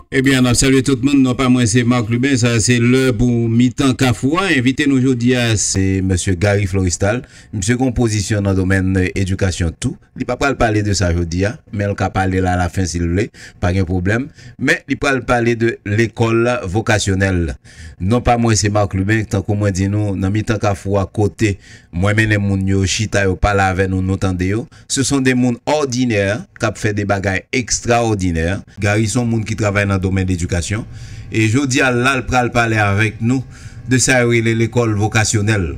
Ebyen nap salye tout moun non pa mwen se Marc Lubin sa se lè pou mitan kafou a envite nou jodi a se mesye Gary Florestal msye gon pozisyon nan domèn edikasyon tou li pa pral pale de sa jodi a men l ka pale la la fen si l vle pa gen pwoblèm men li pral pale de lekòl vokasyonèl Non pa mwen se Marc Lubin tankou mwen di nou nan mitan kafou a kote mwen mennen moun yo chita yo pale avè nou nou tande yo se son de moun òdinè kap fè de bagay ekstraòdinè. Gary son moun ki travay nan domèn ledikasyon e jodi a lal pral pale avèk nou de sa yo rele lekòl vokasyonèl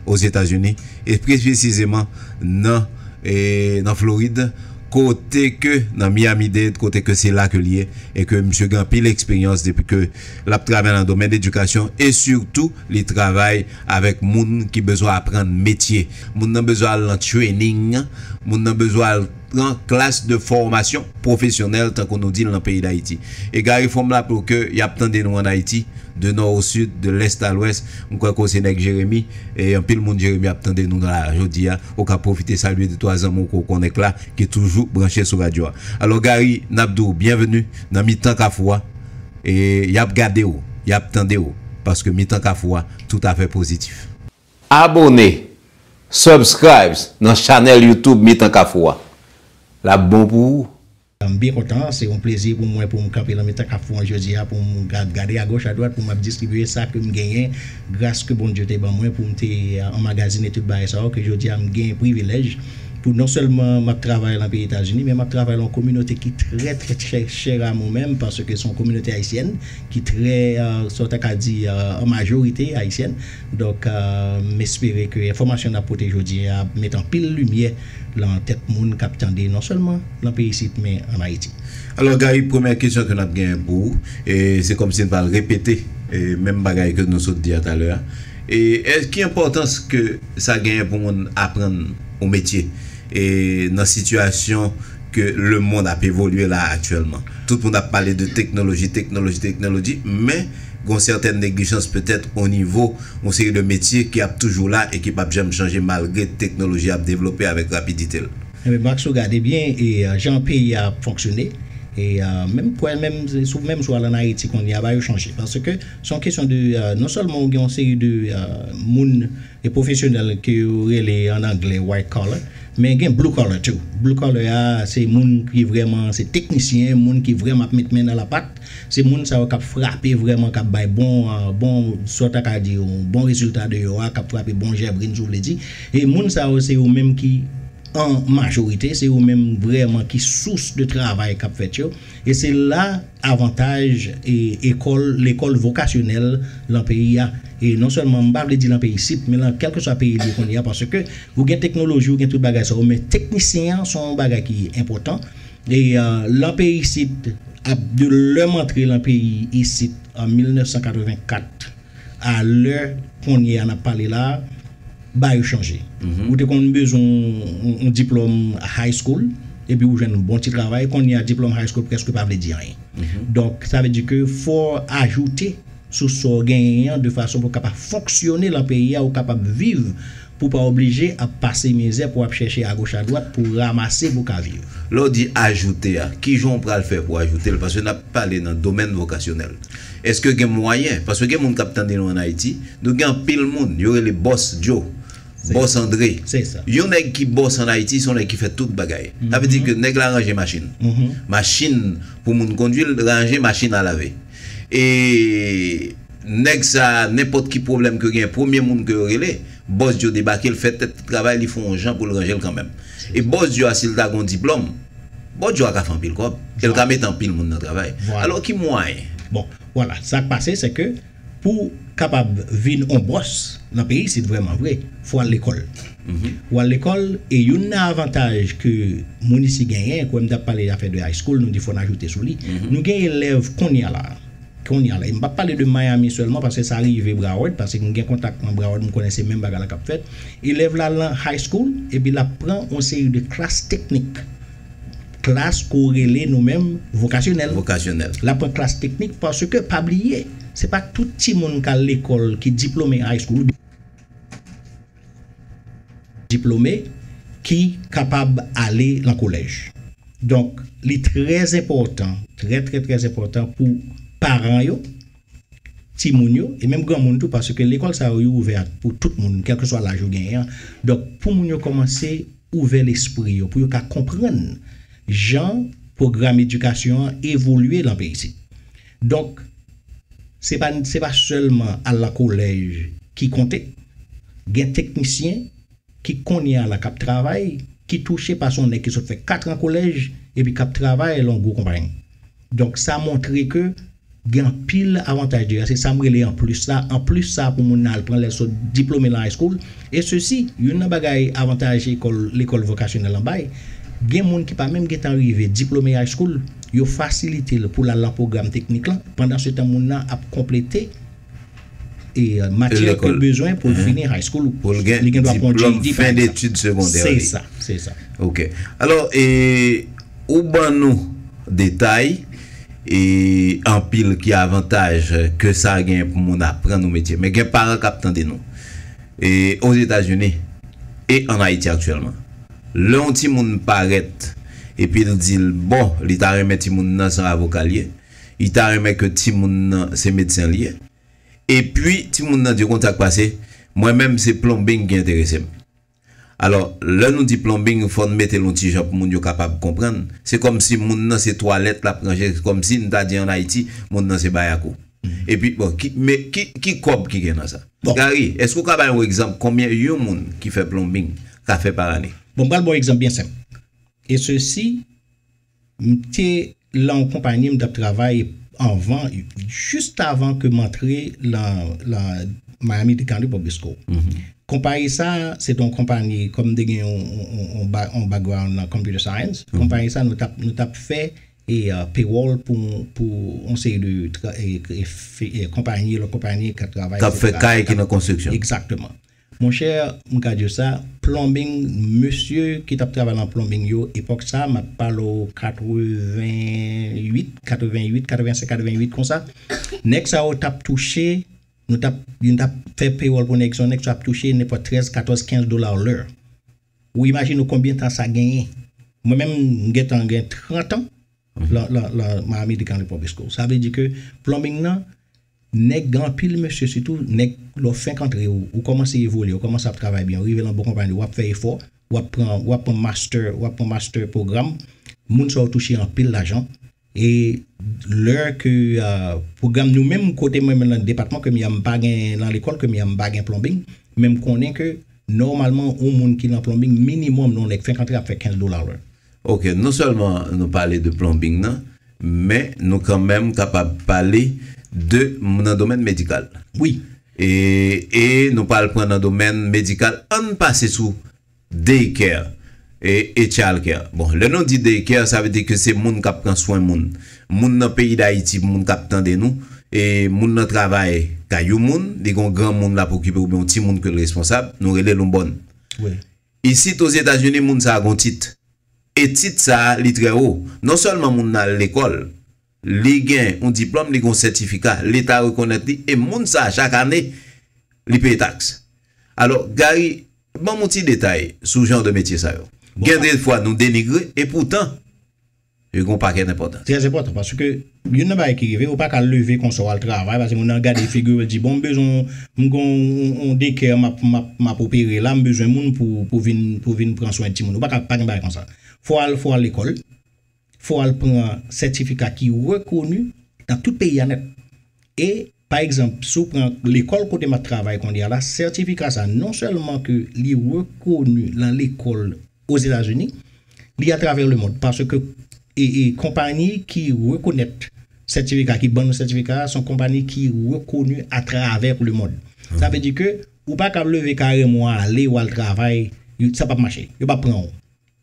ozetazini e pli presizeman nan nan Florid kote ke nan Miami Dade kote ke se la ke li ye e ke misye gen anpil eksperyans depi ke L ap travay nan domèn edikasyon e sitou li travay avèk moun ki bezwen aprann metye. Moun nan bezwen al nan trening, moun nan bezwen al pran klas de fòmasyon pwofesyonèl tankou nou di l nan peyi Dayiti. E Gary fò m raple w ke y ap tande nou ann Ayiti, de nò o sid, de lès a lwès. M kwè ke w se nèg Jeremi e anpil moun Jeremi ap tande nou la jodi a. Ou ka pwofite salye de twa zanmi w ke w konnen k la ki toujou branche sou radyo a. Alò Gary, n ap di w byenveni nan mitan kafou a. E y ap gade w, y ap tande w, paske Mitan Kafou a toutafè pozitif. Abone, Subscribes, nan chanèl YouTube Mitan Kafou a. L ap bon pou ou. M byen kontan, se yon plezi pou mwen pou m kanpe nan mitan kafou an jodi a pou m gade agoch adwat pou m ap distribye sa ke m genyen gras ke Bondye te ban mwen pou m te anmagazine tout bagay sa yo ke jodi a m gen privilèj Pou non sèlman map travay lan peyi Etazini men map travay lan yon kominote ki trè trè trè chèr a mwen menm paske se yon kominote ayisyèn ki trè sa w ta ka di an majorite ayisyèn donk m espere ke enfòmasyon nap pote jodi a ap met anpil limyè lan tèt moun kap tande non sèlman lan peyi isit men an Ayiti. Alò Gary premyè kesyon ke nap genyen pou ou e se kòmsi n pral repete menm bagay ke nou sot di a talè a. E ki enpòtans ke sa genyen pou moun aprann yon metye e nan sitiyasyon ke lemonn ap evolye la aktyèlman? Tout moun ap pale de teknoloji, teknoloji, teknoloji, men gon sètèn neglijans petèt onivo yon seri de metye ki ap toujou la e ki pap janm chanje malgre teknoloji ap devlope avèk rapidite l. Enben Max si w gade byen e jan peyi a ap fonksyone e menm pwèl menm sou menm sou al an Ayiti kounye a ba yo chanje paske Se yon kesyon de non sèlman ou gen yon seri de moun e pwofesyonèl ke yo rele an angle white collar men gen blue collar tou. Blue collar a se moun ki vrèman se teknisyen, moun ki vrèman ap met men nan lapat. Se moun sa yo k ap frape vrèman, k ap bay bon, bon sa w ta ka di yon bon rezilta deyò a, k ap frape bon jèbrin si w vle di. E moun sa yo se yo menm ki an majorite, se yo menm vrèman ki sous de travay k ap fèt yo. E se la avantaj ekòl, lekòl vokasyonèl lan peyi a. E non sèlman, m pa vle di lan peyi isit, men lan kèlkeswa peyi li ye kounye a, paske ou gen teknoloji, ou gen tout bagay sa yo, men teknisyen an se yon bagay ki enpòtan. E lan peyi isit, ap de lè m antre lan peyi isit an 1984, A lè konnyea nap pale la ba yo chanje. Ou te konn bezwen yon diplòm high school epi ou jwenn yon bon ti travay, konnyea diplòm high school prèske pa vle di anyen. Donk sa vle di ke fò w ajoute sou sa w genyen an de fason pou w kapab fonksyone lan peyi a ou kapab viv Pou w pa oblije ap pase mizè pou w ap chèche agoch adwat pou w ramase pou w ka viv. Lè w di ajoute a, ki jan w pral fè pou w ajoute l? Paske n ap pale nan domèn vokasyonèl. Èske gen mwayen? Paske gen moun k ap tande nou ann Ayiti. Nou gen anpil moun. Yo rele Bòs Djo, Bòs Andre. Yon nèg ki bòs ann Ayiti se yon nèg ki fè tout bagay. Sa vle di ke nèg la ranje machin. Machin pou moun kondui l, ranje machin a lave. E nèg sa nenpòt ki pwoblèm ke yo genyen premye moun ke yo rele, Bòs Dyo debake l fè tèt li travay li fon yon jan pou l ranje l kanmèm. E Bòs Dyo a si l ta gen yon diplòm, Bòs Dyo a ka fè anpil kòb e l ka mete anpil moun nan travay. Alò ki mwayen? Bon, vwala, sa k pase sè ke pou. kapab vin on bòs nan peyi isit vrèman vre, fò al lekòl. Ou al lekòl e youn nan avantaj ke moun isi genyen, kwè m ta pale afè de high school nou di fò n ajoute sou li, nou gen elèv konnya la, konnya la, e m pa p pale de Miami sèlman paske sa rive Broward, paske m gen kontak nan Broward m konnen se menm bagay la k ap fèt, elèv la al nan high school epi l ap pran on seri de klas teknik. Klas ke w rele nou menm vokasyonèl. Vokasyonèl. La pran klas teknik paske pa bliye se pa tout timoun k al lekòl ki diplome high school oubyen diplome ki kapab ale lan kolèj. Donk li trè enpòtan, trè trè trè enpòtan pou paran yo. timoun yo e menm granmoun tou paske lekòl sa yo yo ouvè a pou tout moun kèlkeswa laj ou genyen an donk pou moun yo kòmanse ouvè lespri yo pou yo ka konprann jan pwogram edikasyon an evolye lan peyi isit donk se pa se pa sèlman al lan kolèj ki konte gen teknisyen ki kounye a la kap travay, ki touche pa son nèg ki sot fè 4 an kolèj epi kap travay lan yon gwo konpayi. Donk sa montre ke gen anpil avantaj deja, se sam rele anplis la, anplis sa pou moun nan al pran lèl sot diplome lan high school, e sesi youn nan bagay avantaj ekòl lekòl vokasyonèl lan bay, gen moun ki pa menm gentan rive diplome high school, yo fasilitel poul al lan pwogram teknik lan, pandan se tan moun nan ap konplete. e matyè ke l bezwen pou l fini high school ou pou l gen diplòm fen detid segondè li se sa se sa ok alò e ou ban nou detay e anpil ki avantaj ke sa gen pou moun aprann nou metye men gen paran kap tande nou e o zetazini e an ayiti aktyèlman lè yon ti moun parèt epi l di l bon li ta renmen ti moun nan san avoka l ye Li ta renmen ke timoun nan se medsen li ye. Epi timoun nan di konsa k pase, mwen menm se plombing ki enterese m. Alò, lè nou di plombing fò n mete l yon ti jan pou moun yo kapab konprann. Se kòmsi moun nan se twalèt l ap ranje, se kòmsi n ta di an Ayiti moun nan se bayakou. Epi bon, ki men, ki, ki kòb ki gen nan sa? Gari, èske ou ka bay yon egzanp konbyen yon moun ki fè plombing ka fè par ane? Bon, m pral ba w egzanp byen senp. E sesi M te lan yon konpani m tap travay anvan just avan ke m antre lan lan Miami Dade County Public School. Konpayi sa a se te yon konpani kòm m te gen yon yon yon background lan computer science, konpayi sa a nou tap nou tap fè e payroll pou pou yon seri de konpayi, lòt konpayi kap travay, Kap fè kay ki nan konstriksyon. Exactement. Mon cher m ka diw sa plumbing mesye ki tap travay lan plumbing yo epok sa map pale w 88 88 85 88 konsa neg sa yo tap touche nou tap yo tap fè payroll pou neg sa yo neg sa yo ap touche nenpot 13 14 15 dollars l'heure ou imagine w konbyen tan sa genyen mwen menm m gentan gen 30 ans lan lan Miami Decan Republic School sa vle di ke plumbing nan Nèg gen anpil mesye sitou nèg lè w fenk antre ou ou kòmanse evolye ou kòmanse ap travay byen ou rive lan bon konpayi wap fè efò wap pran wap pran mastè wap pran mastè pwogram moun sa yo touche anpil lajan e lè ke pwogram nou menm kote mwen menm lan depatman ke m ya m pa gen lan lekòl ke m ya m pa gen plonbing men m konnen ke nòmalman yon moun ki lan plonbing minimòm lè yon nèg fenk antre ap fè 15 dola lè Ok non sèlman nou pale de plonbing nan men nou kanmenm kapab pale de nan domèn medikal wi e nou pral pran nan domèn medikal ann pase sou day care e child care bon lè nou di day care sa vle di ke se moun kap pran swen moun moun nan peyi dayiti pou moun kap tande nou e moun nan travay kay yon moun li gon granmoun lap okipe oubyen yon timoun ke l responsab nou rele l yon bòn Isit Ozetazini moun sa gon tit. E tit sa li trè wo. Non sèlman moun nan al lekòl. Li gen yon diplòm, li gen yon sètifika. Leta rekonèt li e moun sa chak ane li peye taks. Alò Gary, banm yon ti detay sou jan de metye sa yo. Gen de fwa nou denigre e poutan Yo gen yon pakèt enpòtans. Trè enpòtan paske youn nan bagay ki rive ou pa ka leve konsa wal travay paske moun nan gade figiw epi l di bon m bezwen yon m gen yon de kè map map map opere la m bezwen moun pou pou vin pou vin pran swen timoun ou pa ka pa gen bagay konsa fò w al fò w al lekòl fò w al pran sètifika ki rekoni nan tout peyi a nèt e Pa egzanp, si w pran lekòl kote m ap travay kounye a la, sètifika sa non sèlman ke li rekoni lan lekòl Ozetazini, li atravè lemond paske konpayi ki rekonèt sètifika, ki ban nou sètifika a, son konpayi ki rekoni atravè lemond. Sa vle di ke ou pa kab leve karèm ou ale, ou al travay, sa p ap mache. Yo p ap pran ou.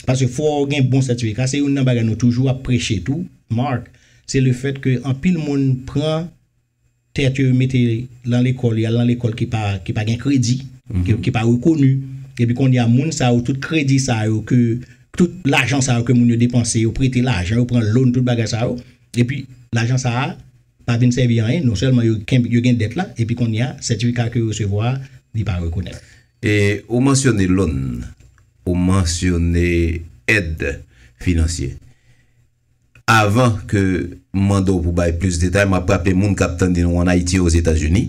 Paske fò w gen bon sètifika. Se youn nan bagay nou toujou ap preche tou, Marc, se le fèt ke anpil moun pran tèt yo, yo mete lan lekòl, yo al lan lekòl ki pa, ki pa gen kredi, ki pa rekoni. Epi kounye a moun sa yo, tout kredi sa yo ke, tout lajan sa yo ke moun yo depanse, yo prete lajan, yo pran loan, tout bagay sa yo. Epi lajan sa a pa vin sèvi anyen. Non sèlman yo kenbe, yo gen dèt la, epi kounye a sètifika ke yo resevwa a, li pa rekonèt. E ou mansyone loan, ou mansyone èd finansye. Avan ke m mande w pou bay plis detay, m ap raple moun k ap tande nou an Ayiti e Ozetazini,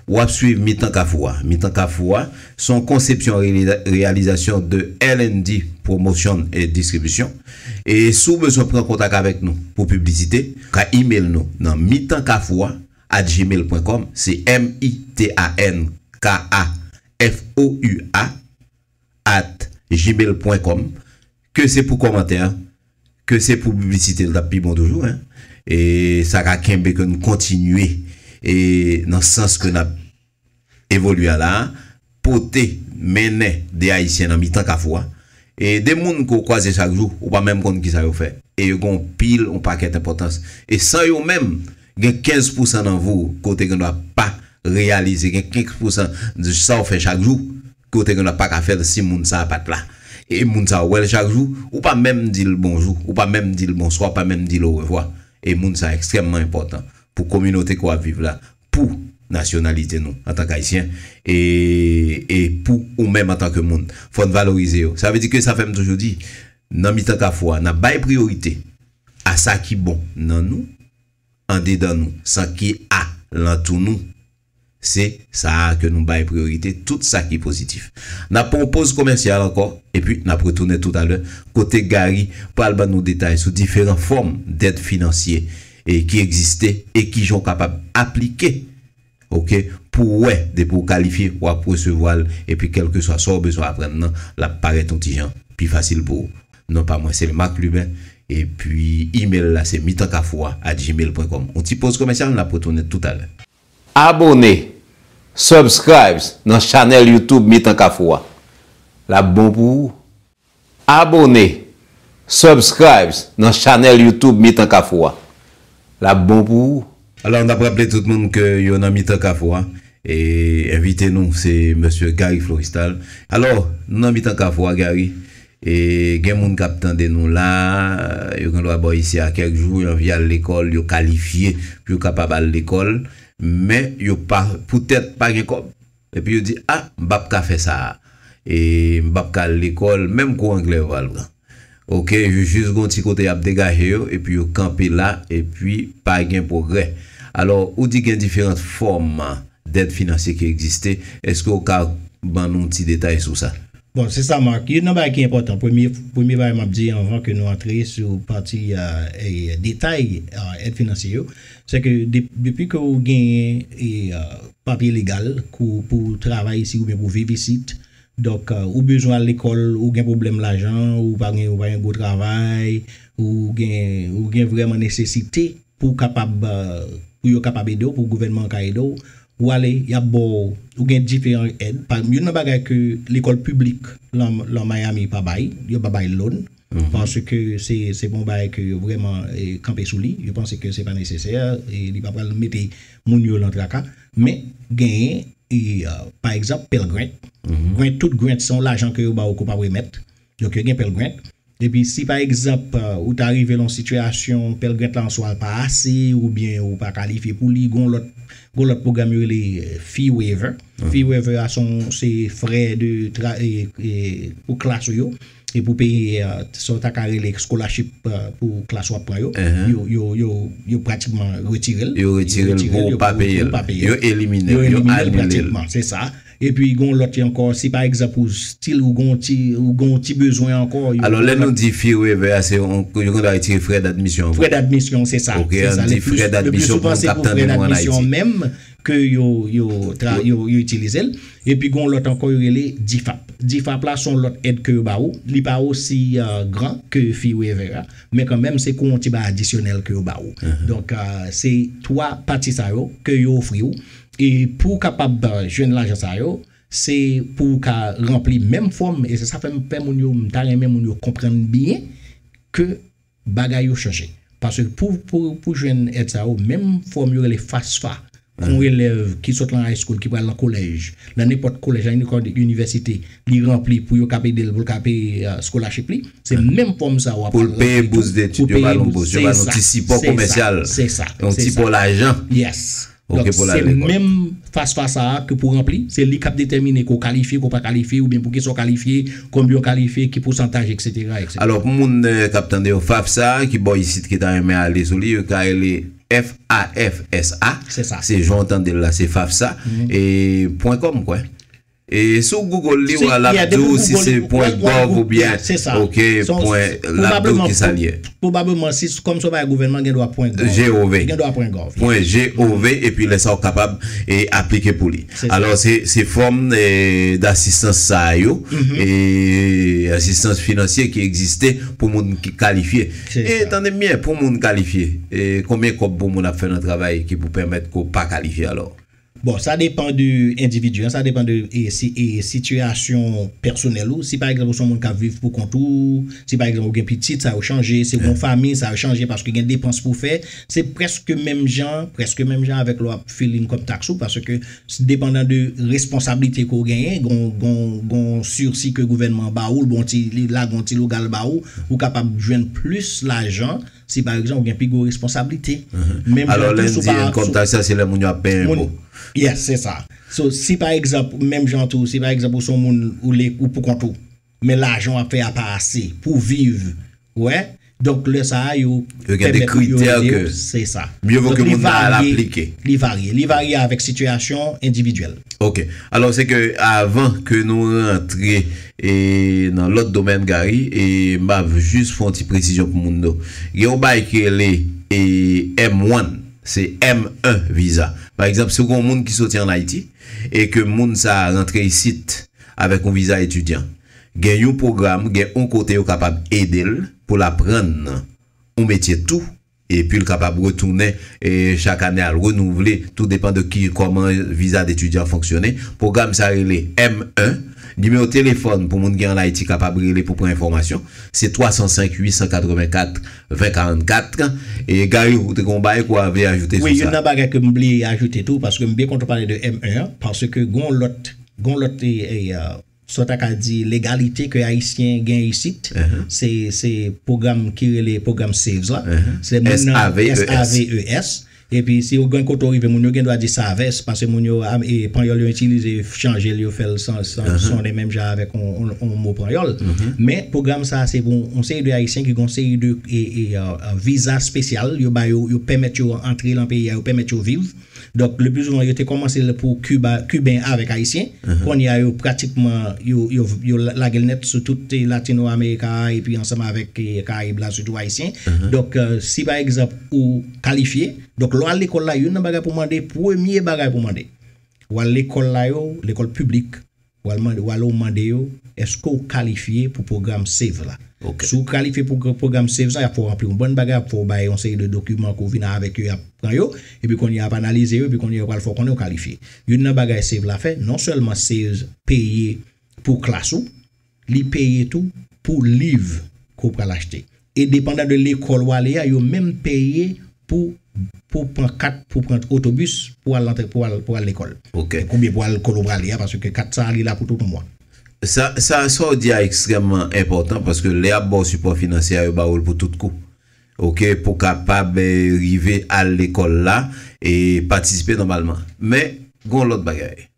w ap swiv Mitan Kafou a. Mitan Kafou a, se yon konsepsyon e reyalizasyon de LND Promotion et Distribution. E si w bezwen pran kontak avèk nou pou piblisite, ou ka imel nou nan mitankafoua. at gmail pwen kòm se m-i-t-a-n-k-a-f-o-u-a at gmail pwen kòm ke se pou kòmantè ke se pou piblisite li t ap pi bon toujou hein e sa ka kenbe ke n kontinye e nan sans ke n ap Evolua la a, pote, mennen 2 Ayisyen nan mitan kafou a. E 2 moun ke w kwaze chak jou, ou pa menm konn kisa yo fè. E yo gen yon pil, yon pakèt enpòtans. E san yo menm, gen 15 pousan nan vi w ke w te gendwa pa reyalize, gen 15 pousan de sa w fè chak jou ke w te gendwa pa ka fè l si moun sa a pa t la. E moun sa a, w wè l chak jou, ou pa menm di l bonjou, ou pa menm di l bonswa, ou pa menm di l orevwa. E moun sa a ekstrèmman enpòtan pou kominote ke w ap viv la, pou nasyonalite nou antank Ayisyen e e pou ou menm antank moun. Fò n valorize yo. Sa vle di ke sa fè m toujou di, nan mitan Kafou a, n ap bay priyorite a sa ki bon nan nou, andedan nou, san ki a lantou nou. Se sa a ke nou bay priyorite, tout sa ki pozitif. N ap pran yon poz komèsyal ankò, epi n ap retounen toutalè kote Garry pral ban nou detay sou diferan fòm dèd finansye. e ki egziste e kijan ou kapab aplike ok pou w wè depi ou kalifye w ap resevwa l epi kèlkeswa sa ou bezwen aprann nan l ap parèt yon ti jan pi fasil pou ou. Non pa mwen se Lmarc Lubin epi email la se mitankafou a at gmail pwen kòm. Yon ti poz komèsyal n ap retounen toutalè. Abone, Subscribes, nan chanèl YouTube Mitan Kafou a. L ap bon pou ou Abone, Subscribes, nan chanèl YouTube Mitan Kafou a. L ap bon pou ou. Alò n ap raple tout moun ke yo nan Mitan Kafou a. E envite nou se Mesye Garry Florestal. Alò, nou nan Mitan Kafou a Garry. E gen moun k ap tande nou la a. Yo gen dwa bò isi a kèk jou. Yo anvi al lekòl. Yo kalifye pou yo kapab al lekòl. Men, yo pa, poutèt pa gen kòb. Epi yo di, A, m pap ka fè sa a. E m pap ka al lekòl. Menm kou anglè yo pral pran. Ok, yo jis gen yon ti kote y ap degaje yo, epi yo kanpe la, epi pa gen pwogrè. Alò, ou di gen diferant fòm dèd finansye ki egziste. Èske ou ka ban nou ti detay sou sa? Bon, se sa Marc. Youn nan bagay ki enpòtan, premye premye bagay m ap di anvan ke nou antre sou pati detay èd finansye yo, se ke depi ke ou genyen papye legal pou ou travay isit oubyen pou ou viv isit, donk ou bezwen al lekòl, ou gen pwoblèm lajan, ou pa gen yon gwo travay, ou gen ou gen vrèman nesesite pou ou kapab pou yo kapab ede w, pou gouvènman an ka ede w, Ou ale, y ap ba w, ou gen diferan èd. Pa egzanp, youn nan bagay ke lekòl piblik lan Miami pa bay, yo pa bay loan, paske se pa yon bagay ke yo vrèman kanpe sou li, yo panse ke se pa nesesè, li pa pral mete moun yo lan traka. Men, genyen, pa egzanp, Pell Grant. Grant, tout Grant, se yon lajan ke yo ba w ke w pa p remèt. Donk yo gen pèlgrent. Epi si pa egzanp ou ta rive lan yon sitiyasyon pèlgrent la an swa l pa ase oubyen ou pa kalifye pou li gon lòt gon lòt pwogram yo rele fee waiver. Fee waiver a son se frè de tra pou klas ou yo e pou peye sa w ta ka rele scholarship pou klas wap pran yo yo yo yo pratikman retire l yo retire l pou ou pa peye l yo elimine l yo anile l. Yo elimine l pratikman se sa. Epi gen yon lòt li ankò, si pa egzanp ou stil ou gen yon ti ou gen yon ti bezwen ankò, yo Alò lè nou di fee waiver a se yon yo konn ta retire frè d'admisyon an pou. Frè d'admisyon se sa, Ok, se an sa di le frè plis, le plis d'admisyon pou souvan moun se k'ap pou frè tande nou an d'admisyon Ayiti. menm ke yo yo tra Yo- yo yo itilize l. Epi gen yon lòt ankò yo rele DFAP. DFAP la se yon lòt èd ke yo ba ou, li pa osi gran ke fee waiver a, men kan menm se kou yon ti bagay adisyonèl ke yo ba ou. Donk se 3 pati sa yo ke yo ofri ou, E pou w kapab jwenn lajan sa yo, se pou w ka ranpli menm fòm, e se sa fè m pè moun yo, m ta renmen moun yo konprann byen ke bagay yo chanje. Paske pou jwenn èd sa yo, menm fòm yo rele FAFSA, pou yon elèv ki sot lan high school, ki pral lan kolèj, lan nenpòt kolèj, lan nenpòt inivèsite, li ranpli pou yo kab ede l, pou l ka peye scholarship li, se menm fòm sa w ap ranpli tou, pou l peye bousdetid, yo ba nou bous, yo ba nou ti sipò komèsyal, yon ti pò lajan. Yes. Donk se menm FAFSA sa a ke pou ranpli, se li k ap detèmine ke w kalifye, ke w pa kalifye, oubyen pou kisa w kalifye, konbyen w kalifye, ki pousantaj eksetera, eksetera. Alò pou moun k ap tande yo, FAFSA a ki bò isit ki ta renmen ale sou li, yo ka rele FAFSA, se jan w tande l la, se FAFSA, e pwen kòm kwè. Si w Google li wa lap di w si se pwen gov oubyen ok pwen lap di w kisa l ye. Pwobableman si kòm se yon bagay gouvènman gen dwa pwen gov. Gen dwa pwen gov. Pwen gov epi lè sa w kapab aplike pou li. Alò se fòm dasistans sa yo, asistans finansye ki egziste pou moun ki kalifye. E tande m byen pou moun kalifye, konbyen kòb pou moun ap fè nan travay ki pou pèmèt ke w pa kalifye alò? Bon sa depan de endividi an, sa depan de sitiyasyon pèsonèl ou, si pa egzanp ou son moun kap viv pou kont ou, si pa egzanp ou gen pitit sa yo chanje, si ou gon fanmi sa yo chanje paske gen depans pou fè, se prèske menm jan, prèske menm jan avèk lè wap file yn kòb taks ou paske depandan de responsablite ke ou genyen gon sursi ke gouvènman an ba ou, bon ti li lage yon ti logal ba ou, ou kapab jwenn plis lajan Si pa egzanp ou gen pi gwo responsablite, menm jan tou sou pa. Enkom tax la se lè moun yo ap peye enpo. Yes, se sa. So, si pa egzanp, menm jan tou, si pa egzanp ou son moun ou le ou pou kont ou, men lajan wap fè a pa ase pou viv, ou wè, donk lè sa a yo. Yo gen de kritè ke. Se sa. Mye vo ke moun nan al aplike. Li varye. Li varye avèk sitiyasyon endividyèl. Ok. Alò se ke avan ke nou rantre. E nan lòt domèn Gary, e m ap jis fè yon ti presizyon pou moun yo. Gen yon bagay ki rele e M one, se M un viza. Pa egzanp, si ou gen yon moun ki soti an Ayiti e ke moun sa a rantre isit avèk yon viza etidyan, gen yon pwogram, gen yon kote yo kapab ede l pou l aprann yon metye tou. epi l kapab retounen chak ane al renouvle, tou depan de ki kòman viza detidyan an fonksyone. Pwogram sa rele M-1. Nimewo telefòn pou moun ki ann Ayiti kapab rele pou pran enfòmasyon, se 305 884 2044. E Gary ou te gen yon bagay ke w avle ajoute sou sa? Wi, youn nan bagay ke m vle ajoute tou, paske m byen kontan w pale de M-1 an, paske gen yon lòt, gen yon lòt e. Sa w ta ka di legalite ke Ayisyen gen isit, se pwogram ki rele pwogram SAVES la. S-A-V-E-S. Epi si ou gen kote ou rive, moun yo gen dwa di Savès, pase moun yo, panyòl yo itilize, chanje l, yo fè l sonnen menm jan avèk yon mo panyòl. Men, pwogram sa a se pou yon seri de Ayisyen ki gen yon seri de viza spesyal yo ba yo, yo pèmèt yo antre lan peyi a, yo pèmèt yo viv. Donk le pli souvan yo te komanse l pou Kiba, Kiben avèk Ayisyen. Kounye a yo pratikman yo lage l nèt sou tout Latino Amerika a epi ansanm avèk Karayib la sitou Ayisyen. Donk si pa egzanp ou kalifye, donk lè w al lekòl la youn nan bagay pou w mande, premye bagay pou w mande. Ou al lekòl la yo, lekòl piblik. W ale w mande yo, Èske ou kalifye pou pwogram save la? Si ou kalifye pou pwogram save sa, y ap fè w ranpli yon bann bagay, y ap fè w bay yon seri de dokiman ke w vin avèk yo, y ap pran yo, epi kounye a y ap analize yo, epi kounye a yo pral fè w konnen ou kalifye. Youn nan bagay save la fè, non sèlman save peye pou klas ou, li peye tou pou liv ke w pral achte. E depandan de lekòl wale ya yo menm peye pou pou pran kat pou pran otobis pou al antre pou al pou al lekòl. Ok. E koubyen pou al lekòl ou prale ya paske kat sa li la pou tout on mwa. Sa sa sa w di ya ekstrèmman enpòtan paske lè yap ba w sipò finansye ya yo ba ou l pou tout kou. Ok pou kapab rive al lekòl la e patisipe nòmalman. Men gon lòt bagay.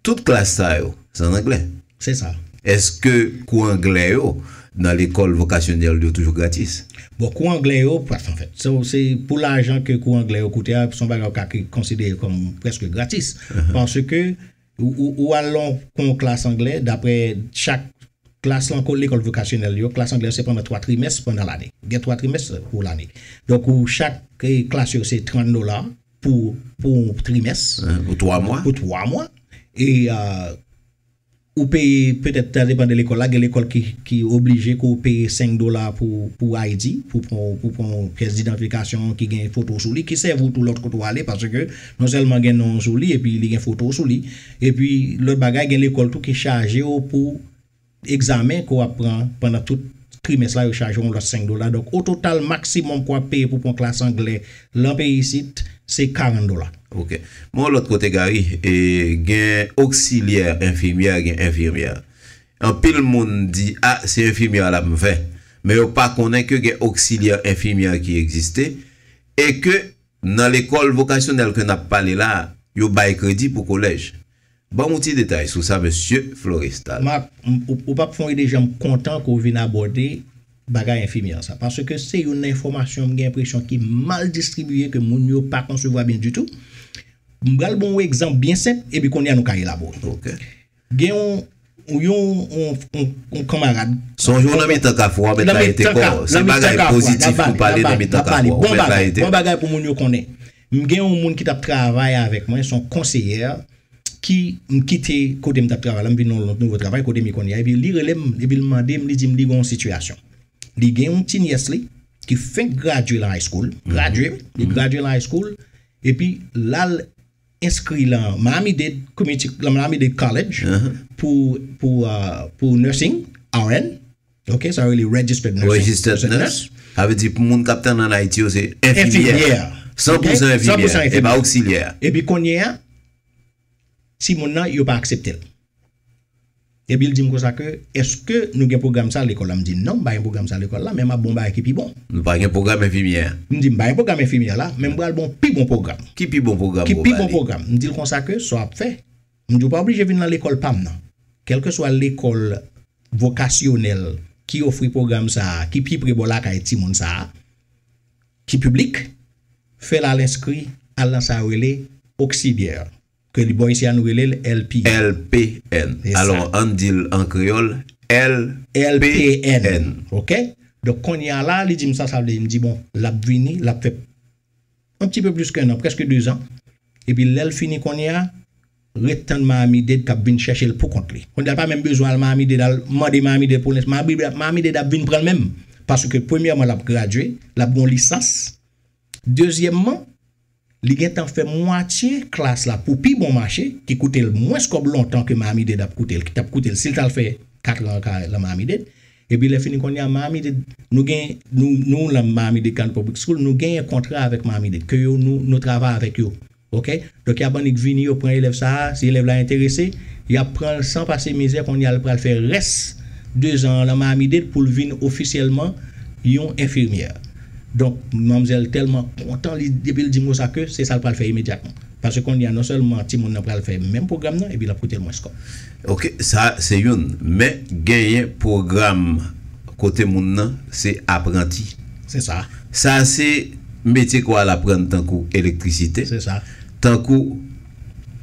Tout klas sa yo, se an anglè? Se sa. Èske kou anglè yo nan lekòl vokasyonèl yo toujou gratis? Bon, kou anglè yo, anfèt, se pou lajan ke kou anglè yo koute a, se yon bagay ou ka konsidere kòm prèske gratis. Paske, ou al nan yon klas anglè, dapre chak klas lan kou lekòl vokasyonèl yo, klas anglè yo se pandan 3 trimès pandan lane. Gen 3 trimès pou lane. Donk, chak klas yo se 30 dola, Pou yon trimès. Pou 3 mwa. Pou 3 mwa. E ou peye petèt sa depan de lekòl la. Gen lekòl ki oblije ke w peye 5 dola pou ID. Pou w pran yon pyès didantfikasyon ki gen foto w sou li. Ki sèvi w tou lòt kote w ale. Paske non sèlman gen non w sou li epi li gen foto w sou li. Epi lòt bagay gen lekòl tou ki chaje w pou. Egzamen ke w ap pran pandan tout trimès la yo chaje w yon lòt 5 dola. Donk o total maksimòm ke w ap peye pou pran klas angle lan peyi isit se 40 dola. Ok. Men yon lòt kote Gary, gen oksilyè enfimyè, gen enfimyè. Anpil moun di a se enfimyè a l ap fè. Men yo pa konnen ke gen oksilyè enfimyè ki egziste e ke nan lekòl vokasyonèl ke n ap pale la a, yo bay kredi pou kolèj. Banm ou ti detay sou sa mesye Florestal. Marc, ou pap fon ide janm kontan ke w vin abòde bagay enfimyè an sa. Paske se youn nan enfòmasyon m gen enpresyon ki mal distribiye ke moun yo pa konsevwa byen ditou. M pral ba w yon egzanp byen senp epi kounye a nou ka elabore. Gen yon Yon kanmarad. Sonje w nan mitan kafou a w mèt layite kò w. Se bagay pozitif pou pale nan mitan kafou a w mèt layite. Bon bagay pou moun yo konnen. M gen yon moun ki t ap travay avèk mwen, s on konseyè ki m kite kote m t ap travay la m vin nan yon nouvo travay kote m ye kounye a epi li rele m epi l mande m li di m li gen yon sitiyasyon. Li gen yon ti nyès li ki fenk gradye lan high school, gradye wi, li gradye lan high school epi l al enskri lan Miami Dade Community, lan Miami Dade College pou, pou, pou nursing, RN, ok, sa yo rele registered nurse. Registered nurse, sa vle di pou moun k ap tann an Ayiti yo se enfimyè. Enfimyè. San pou san enfimyè, e pa oksilyè. Epi kounyea, timoun nan yo pa aksepte l. Epi l di m konsa ke, Èske nou gen pwogram sa lekòl la? M di, Non, m pa gen pwogram sa lekòl la, men m ap ba w yon bagay ki pi bon. M pa gen pwogram enfimyè a. M di, M pa gen pwogram enfimyè la, men m pral ba w yon pi bon pwogram. Ki pi bon pwogram ou va li? Ki pi bon pwogram? M di l konsa ke, Sa w ap fè, m di w pa oblije vin nan lekòl pa m nan. Kèlkeswa lekòl vokasyonèl ki ofri pwogram sa a, ki pi pre bò lakay timoun sa a, ki piblik, fè l al enskri, al nan sa yo rele oksilyè. Ke li bon isi a nou rele l LP. LPN. Alò ann di l an kreyòl L. LPN. Ok. Donk kounye a la li di m sa sa vle di. M di bon l ap vini l ap fè on pti peu plis ke 1 an, prèske 2 zan. Epi lè l fini kounye a, ret tann Mayami Dade k ap vin chèche l pou kont li. Kounye a l pa menm bezwen al Mayami Dade al mande Mayami Dade pou l. Mayami Dade ap vin pran l menm. Paske premyèman l ap gradye, l ap gen yon lisans. Dezyèmman. Li gentan fè mwatye klas la pou pi bon mache, ki koute l mwens kòb lontan ke Miami-Dade ap koute l, ki t ap koute l si l t al fè katran an ka lan Miami-Dade. Epi lè fini kounye a Miami-Dade, nou gen, nou, nou lan Miami-Dade County Public School, nou genyen kontra avèk Miami-Dade, ke yo nou, nou travay avèk yo. Ok? Donk y ap annik vini, yo pran elèv sa a, si elèv la enterese, y ap pran l san pase mizè, kounye a l pral fè rès dezan an lan Miami-Dade pou l vin ofisyèlman yon enfimyè. Donk, manmzèl tèlman kontan li depi l di mo sa ke se sa l pral fè imedyatman. Paske kounye a non sèlman timoun nan pral fè menm pwogram nan epi l ap koute l mwens kòb. Ok, sa se youn. Men genyen pwogram kote moun nan se apranti. Se sa. Sa se metye kwa l aprann tankou elektrisite. Se sa. Tankou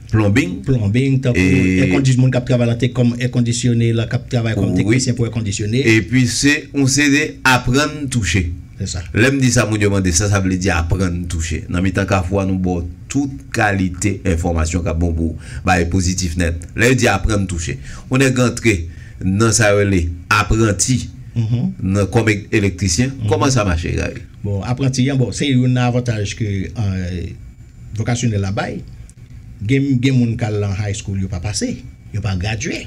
Plombing. Plombing, tankou èkondisyon, moun k ap travay nan te kòm èkondisyone, k ap travay kòm teknisyen pou èkondisyone. Wi. Epi se yon seri aprann touche. Se sa. Lè m di sa moun yo mande sa sa vle di aprann touche. Nan mitan Kafou a nou ba w tout kalite enfòmasyon k ap bon pou bay pozitif nèt. Lè yo di aprann touche. Yon nèg antre nan sa yo rele apranti nan kòm elektrisyen, kòman sa mache Gary? Bon, apranti an, bon, se youn nan avantaj ke. Vocacionel la bay, gen gen moun kal lan high school yo pa pase, yo pa gradye.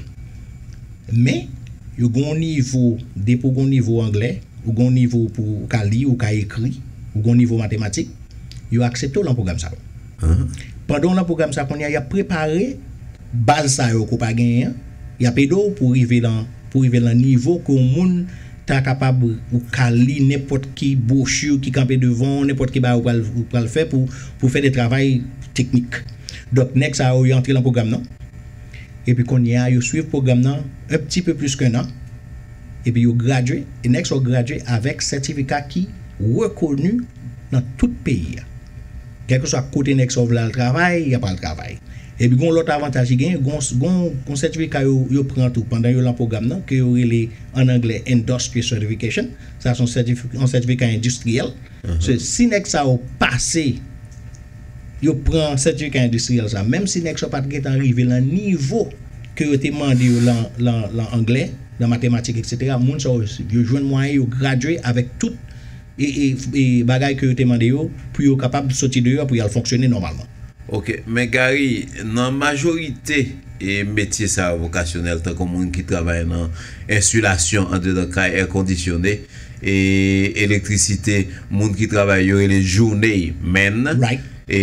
Men, yo gen yon nivo, depi ou gen yon nivo anglè, ou gen yon nivo pou ou ka li, ou ka ekri, ou gen yon nivo matematik, yo aksepte w lan pwogram sa yo. Pandan w lan pwogram sa kounye a, y ap prepare. Baz sa yo ke w pa genyen an, y ap ede w pou w rive lan pou w rive lan nivo ke yon moun ta kapab ou ka li nenpòt ki bwochi ki kanpe devan w, nenpòt ki bagay ou pral ou pral fè pou pou w fè de travay teknik. Donk nèg sa yo, yo antre lan pwogram nan epi kounye a yo swiv pwogram nan un pti peu plis ken an epi yo gradye e nèg sa yo gradye avèk sètifika ki rekoni. Nan tout peyi a. Kèlkeswa kote nèg sa yo vle al travay, y ap al travay. Epi gen yon lòt avantaj ki genyen, gen yon sètifika yo pran tou pandan yo lan pwogram nan ke yo rele an anglè Industry Certification. Sa se yon sètifika endistriyèl. Si nèg sa yo pase, yo pran sètifika endistriyèl sa, menm si nèg sa yo pa t gentan rive lan nivo ke yo te mande yo lan anglè, lan matematik eksetera, moun sa yo jwenn mwayen yo gradye avèk tout. e bagay ke yo te mande yo pou yo kapab soti deyò pou y'al fonksyone nòmalman. Ok, men Gary, nan majorite e metye sa yo vokasyonèl tankou moun ki travay nan ensilasyon andedan kay, è kondisyone, e elektrisite, moun ki travay yo rele journey men, e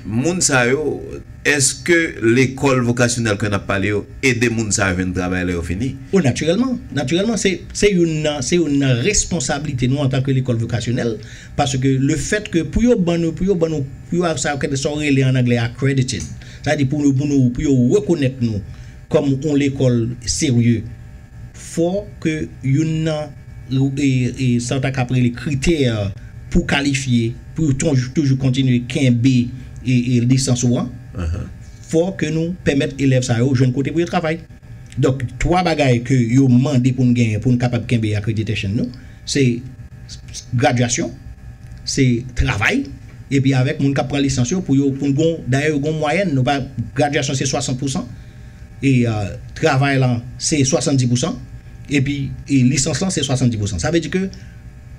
moun sa yo. Èske lekòl vokasyonèl ke n ap pale yo ede moun sa yo jwenn travay lè yo fini? O, natirèlman! Natirèlman, se, se youn nan, se youn nan responsablite nou antanke lekòl vokasyonèl, paske lefètke pou yo ban nou, pou yo ban nou, pou yo sa yo kèdè, sa yo rele an anglè accredited, sa vle di pou nou, pou nou, pou yo rekonèt nou kòm yon lekòl serye, fò ke youn nan sa w ta kab rele kritè pou kalifye pou w toujou kontinye kenbe lisans ou an, fò ke nou pèmèt elèv sa yo jwenn kote pou yo travay. Donk, 3 bagay ke yo mande pou n genyen pou n kapab kenbe accreditation nou, se gradyasyon, se travay, epi avèk moun k ap pran lisans yo pou yo, pou n gen yon, dayè yo gen yon mwayèn, gradyasyon se 60 pousan, e travay lan se 70 pousan epi lisans lan se 70 pousan sa vle di ke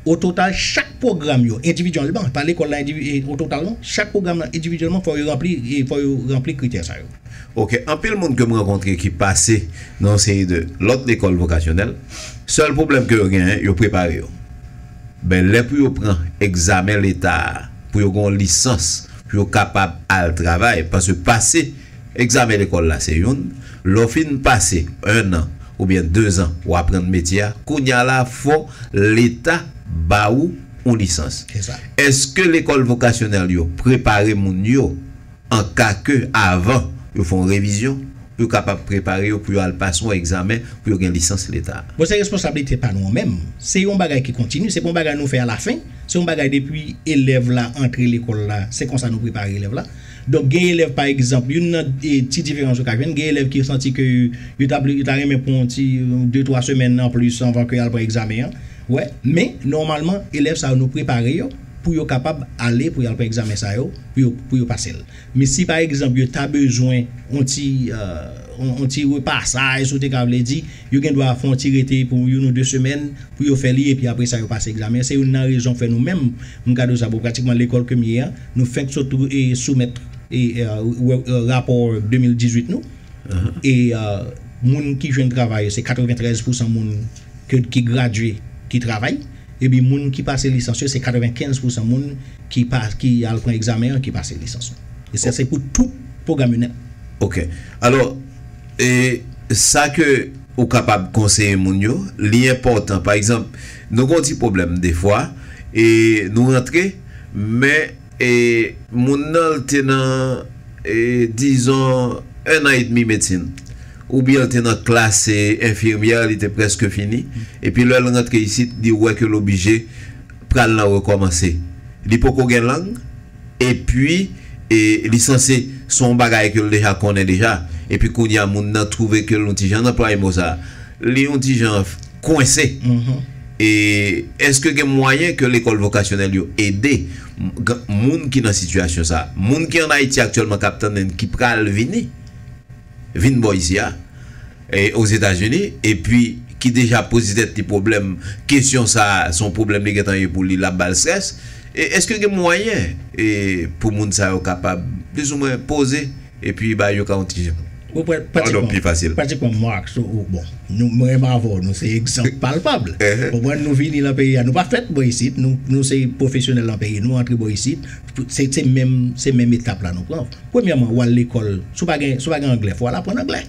o total chak pwogram yo endividyèlman pa lekòl la o total non chak pwogram lan endividyèlman fò yo ranpli fò yo ranpli kritè sa yo. Ok anpil moun kem rankontre ki pase nan yon seri de lòt lekòl vokasyonèl sèl pwoblèm ke yo genyen yo prepare yo men lè pou yo pran egzamen leta a pou yo gen yon lisans pou yo kapab al travay paske pase Egzamen lekòl la se youn, lè w fin pase 1 an oubyen 2 zan ou aprann metye a, kounya la fò leta ba ou yon lisans. Eske lekòl vokasyonèl yo prepare moun yo an ka ke avan yo fè yon revizyon pou yo kapab prepare yo pou yo al pase yon egzamen pou yo gen lisans leta? Bon se responsablite pa nou an menm, se yon bagay ki kontini, se pa yon bagay nou fè alafen, se yon bagay depi elèv la antre lekòl la se konsa nou prepare elèv la. Donk gen elèv pa egzanp, youn nan ti diferans yo ka jwenn, gen elèv ki santi ke yo ta yo ta renmen pran yon ti de twa semèn anplis anvan ke y'al pran egzamen an, wè. Men, nòmalman, elèv sa yo nou prepare yo pou yo kapab ale pou y'al pran egzamen sa yo, pou yo pou yo pase l. Men si pa egzanp yo ta bezwen yon ti yon ti repasaj, si w te ka vle di, Yo gen dwa fè yon ti rete pou youn ou de semèn pou yo fè li epi apre sa yo pase egzamen an. Se youn nan rezon k fè nou menm MCADHO sa, bon pratikman lekòl ke m ye an, nou fenk sot soumèt rapò 2018 nou e moun ki jwenn travay yo se 93 pousan moun ki gradye ki travay epi moun ki pase lisans yo se 95 pousan moun ki al pran egzamen an ki pase lisans yo. E sa se pou tout pwogram yo nèt. Ok. Alò. E sa ke ou kapab konseye moun yo, li enpòtan. Pa egzanp, nou gen yon ti pwoblèm defwa, e nou rantre, men e moun nan l te nan e dizon ennan edmi medsin, oubyen l te nan klas e enfimyè, li te prèske fini, epi lè l rantre isit, li wè ke l oblije pral nan rekòmanse. Li poko gen lang. Epi li sanse se yon bagay ke l deja konnen deja. Epi kounye a moun nan twouve ke l yon ti jan, m anplwaye mo sa a, li yon ti jan kwense. E èske gen mwayen ke lekòl vokasyonèl yo ede moun ki nan sitiyasyon sa a? Moun ki ann Ayiti aktyèlman k ap tande n, ki pral vini? vin bò isi a, Ozetazini, epi ki deja ap poze tèt li pwoblèm, kesyon sa a se yon pwoblèm li gentan ye pou li, l ap ba l strès, e èske gen mwayen pou moun sa yo kapab plizoumwen poze epi bay yo ka yon ti jan, padon, pi fasil? Pratikman Marx ou, bon, nou, mwen menm avè w, nou se egzanp palpab, ou konprann, nou vini lan peyi a, nou pa fèt bò isit, nou se pwofesyonèl lan peyi, nou antre bò isit, se menm etap la nou pran. Premyèman, w al lekòl, si w pa gen, si w pa gen anglè, fò w al aprann anglè.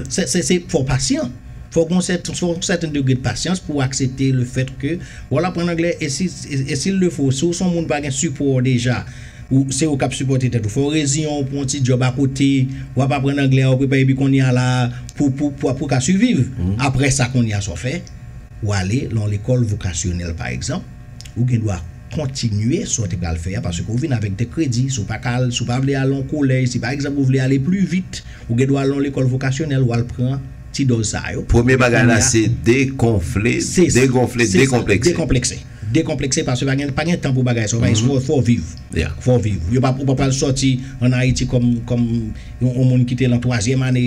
Se, se, se, fò w pasyan. Fò w gen yon sèten, fò w gen yon sèten degre de pasyans pou w aksepte le fèt ke w al aprann anglè e si, e si lefo, si w se yon moun pa gen sipò deja, ou, se ou k ap sipòte tèt ou. Fò w reziyen w pou yon ti djòb akote, w ap aprann anglè a, w ap prepare epi kounye a la a, pou, pou, pou, pou w ka siviv. Aprè sa kounye a sa w fè? Ou ale lan yon lekòl vokasyonèl pa egzanp, ou gen dwa. Kontinye sa w te pral fè a paske ou vin avèk de kredi. Si w pa ka al, si w pa vle al yon kolèj, si pa egzanp ou vle ale pli vit, ou gen dwa al nan yon lekòl vokasyonèl, ou al pran ti dòz sa a yo. Premye Epi bagay kounye la a, se degonfle, Se sa, degonfle, se sa, dekonplekse. dekonplekse. Dekonplekse paske pa gen pa gen tan pou bagay sa yo, bagay sa yo fò w viv. Yeah. Fò w viv. Yo pa ou pa pral sòti an Ayiti kòm kòm Yon moun ki te lan twazyèm ane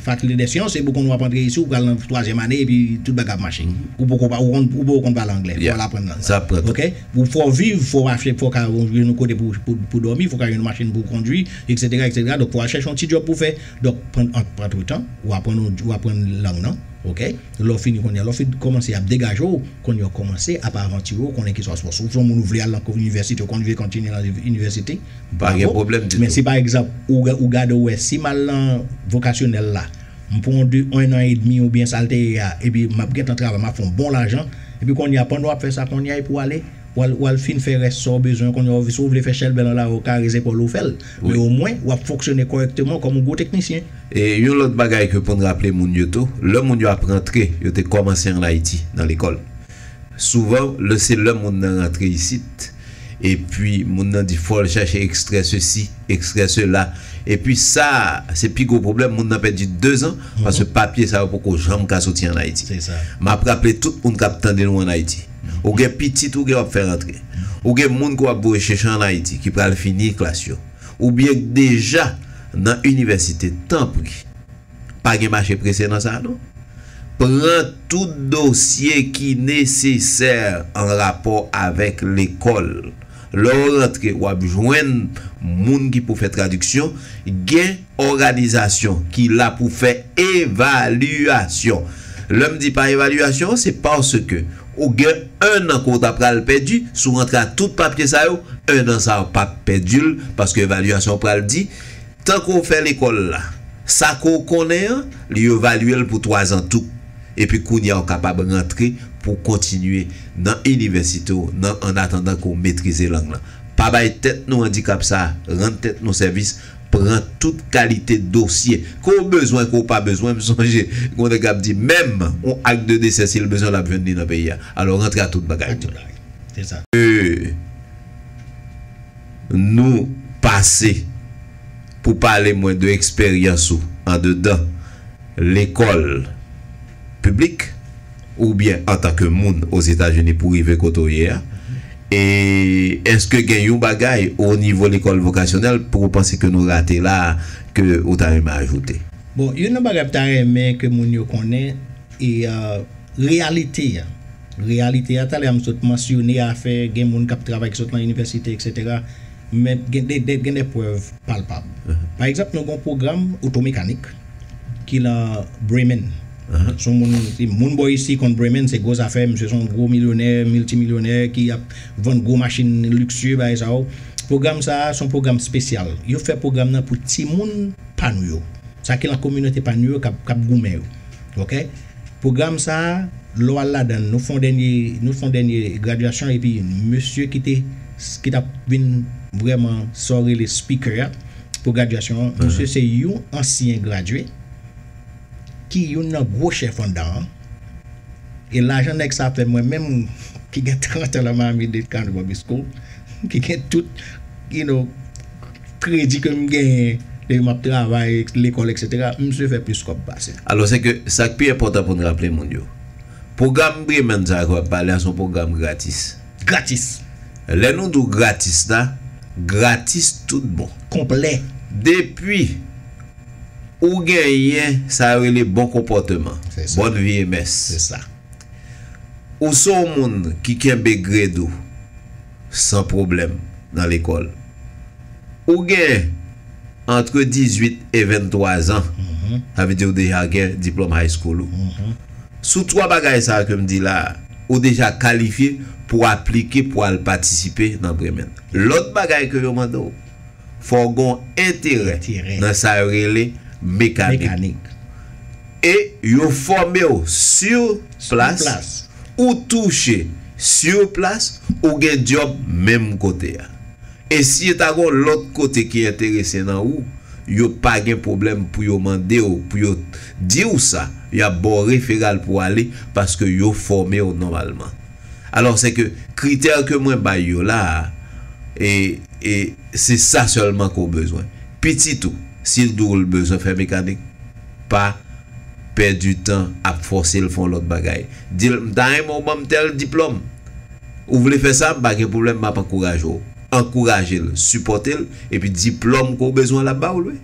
fakilte dè syans epi ou konn wap antre isi ou pral lan twazyèm ane epi tout bagay ap mache ou poko pa ou konn ou poko konn pale anglè fòw al aprann lang lan ok ou fòw viv fòw achte fòk a yon yon kote pou pou dòmi fòk a yon machin pou kondwi eksetera eksetera donk fòw al chèche yon ti djòb pou fè donk pran antretan ou aprann yon ou aprann lang nan ok lèw fini kounye a lèw fin kòmanse ap degajew kounye a w kòmanse ap avantire w konnen ki sa w si w son moun ou vle al lan inivèsite ou konn vle kontinye lan inivèsite. M pa gen pwoblèm ditou. Men si pa egzanp, ou gade ou wè, si m al nan vokasyonèl la, m pran yon de, yon an edmi oubyen sa l te ye a, epi m ap gentan travay, m ap fè yon bon lajan, epi kounye a, pandan w ap fè sa kounye a, epi w ale, w al fin fè rès sa w bezwen an, kounye a, si w vle fè chèlbè nan lari, w kare zepòl ou, w fè l. Men omwen, w ap fonksyone kòrèkteman kòm yon gwo teknisyen. E yon lòt bagay ke pou n raple moun yo tou, lè moun yo ap rantre, yo te kòmanse ann Ayiti, nan lekòl. Souvan, lè se lè moun nan rantre isit. Epi moun nan di fòl chache ekstrè sesi, ekstrè sela. Epi sa a, se pi gwo pwoblèm, moun nan pèdi 2 zan, paske papye sa yo poko janm ka soti an Ayiti. M ap raple tout moun k ap tande nou an Ayiti, ou gen pitit ou gen w ap fè rantre, ou gen moun ke w ap voye chèche an Ayiti ki pral fini klas yo, oubyen k deja nan inivèsite, tanpri, Pa gen mache prese nan sa non. Pran tout dosye ki nesesè an rapò avèk lekòl. Lè w rantre, w ap jwenn moun ki pou fè tradiksyon. Gen òganizasyon ki la pou fè evalyasyon. Lè m di pa evalyasyon an, se paske ou gen ennan ke w ta pral pèdi. Si w rantre ak tout papye sa yo, ennan sa a w pap pèdi l paske evalyasyon pral di. Tan ke w fè lekòl la, sa ke w konnen an, li evalye l pou twazan tou. Epi kounye a ou kapab rantre pou w kontinye nan inivèsite w nan annatandan ke w metrize lang lan. Pa bay tèt nou andikap sa a, rann tèt nou sèvis, pran tout kalite dosye ke w bezwen, ke w pa bezwen. M sonje gen yon nèg k ap di menm yon ak de desè si l bezwen l ap jwenn li nan peyi a. Alò rantre ak tout bagay nou. Ke Nou pase pou pale mwen de eksperyans ou andedan lekòl piblik oubyen antanke moun Ozetazini pou rive kote w ye a. E èske gen yon bagay onivo lekòl vokasyonèl pou ou panse ke nou rate la a ke ou ta renmen ajoute? Bon, youn nan bagay m ta renmen ke moun yo konnen e reyalite a. Reyalite a, talè a m sot mansyone afè gen moun k ap travay ki sot nan inivèsite eksetera, men gen de prèv palpab. Pa egzanp, nou gen yon pwogram otomekanik ki lan Bremen. Se yon moun, si moun bò isi konn Bremen, se gwo zafè, misye se yon gwo milyonè, miltimilyonè ki ap vann gwo machin liksye, bagay sa yo. Pwogram sa a, se yon pwogram spesyal. Yo fè pwogram nan pou timoun pa nou yo, sa ki lan kominote pa nou yo k ap goumen yo. Ok? Pwogram sa a, lè w al ladan l, nou fè yon dènye, nou fè yon dènye gradyasyon epi mesye ki te, ki t ap vin vrèman sa w rele speaker a pou gradyasyon an, misye se yon ansyen gradye ki youn nan gwo chèf anndan an e lajan nèg sa fè mwen menm ki gen 30 an lan Miami-Dade County Public School ki gen tout, you know. Kredi ke m genyen depi m ap travay, lekòl eksetera, msye fè plis kòb pase. Alò se ke sa k pi enpòtan pou n raple moun yo, pwogram Bremen sa a ke w ap pale a se yon pwogram gratis. Gratis! Lè nou di w gratis la, gratis tout bon. Konplè. Depi ou genyen sa yo rele bon konpòteman, bòn vi e mès, ou se yon moun ki kenbe gred ou, San pwoblèm nan lekòl. Ou gen antre 18 e 23 zan, sa vle di ou deja gen diplòm high school ou. Sou twa bagay sa a ke m di la a, ou deja kalifye pou aplike pou al patisipe nan Bremen. Lòt bagay ke yo mande w, fò w gen yon enterè nan sa yo rele mekanik. E yo fòme w sur plas. ou touche sur place ou gen dyob menm kote a. E si e ta gon lòt kote ki enterese nan ou, yo pa gen pwoblèm pou yo mande w pou yo di w sa, y ap ba w referal pou w ale paske yo fòme w nòmalman. Alò se ke kritè ke mwen bay yo la a, e, e se sa sèlman ke w bezwen. Pitit ou, si l di w l bezwen fè mekanik, pa pèdi tan ap fòse l fè yon lòt bagay. Di l, M ta renmen w ban m tèl diplòm. Ou vle fè sa? M pa gen pwoblèm, m ap ankouraje w. Ankouraje l, sipòte l, epi diplòm ke w bezwen l ap ba w l wi.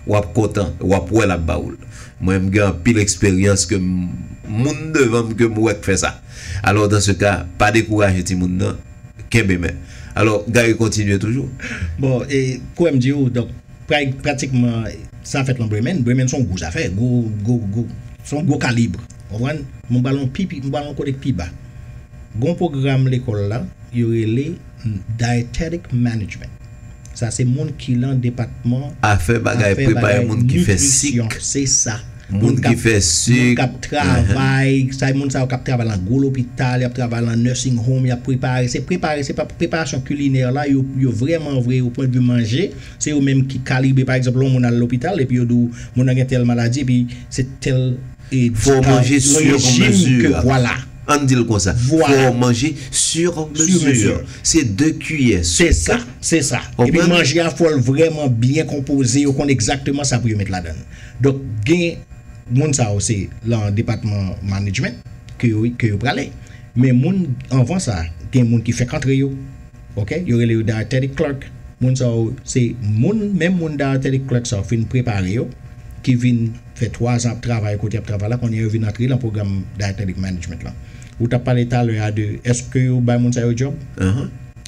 W ap kontan e w ap wè l ap ba w l. Mwen, m gen anpil eksperyans ke m, moun devan m ke m wè k fè sa. Alò, dan se ka, pa dekouraje timoun nan, kenbe men. Alò, Gary kontinye toujou. Bon, e, kwè m di ou, donk, Pray pratikman zafè lan Bremen. Bremen son gwo zafè, gwo, gwo, gwo, son gwo kalibre. Konprann? Men m pral yon pi pi, m pral yon kote k pi ba. Gon pwogram lekòl la, yo rele Dietetic Management. Sa se moun ki lan depatman Afè bagay, afè prepare bagay moun ki fè sik, nitrisyon. Se sa. Moun moun k ki ap, fè moun k sik. ap travay, sa e moun sa yo k ap travay lan gwo lopital, y ap travay lan nursing home, y ap prepare, se prepare, se pa preparasyon kilinè la, yo, yo vrèman vre o pwendvi manje. Se yo menm ki kalibre pa egzanp lè yon moun al lopital epi yo di w moun nan gen tèl maladi epi se tèl e Fò w manje sur mesure. Fò w manje sur mesure. An n di l konsa. Fò w manje sur mesure. Se 2 kiyè soup. Se sa. Se sa. Epi manje a fò l vrèman byen konpoze yo konn egzakteman sa pou yo met ladan l. Donk gen moun sa yo se lan depatman manedjment ke yo prale. Men moun anvan sa gen moun ki fèk antre yo Ok yo rele yo dietetic clerk moun sa yo se moun menm moun dietetic clerk sa yo fin prepare yo ki vin fè 3 zan ap travay kote yap travay la kounye yo vin antre lan pwogram dietetic management lan ou tap pale talè a de eske yo bay moun sa yo djòb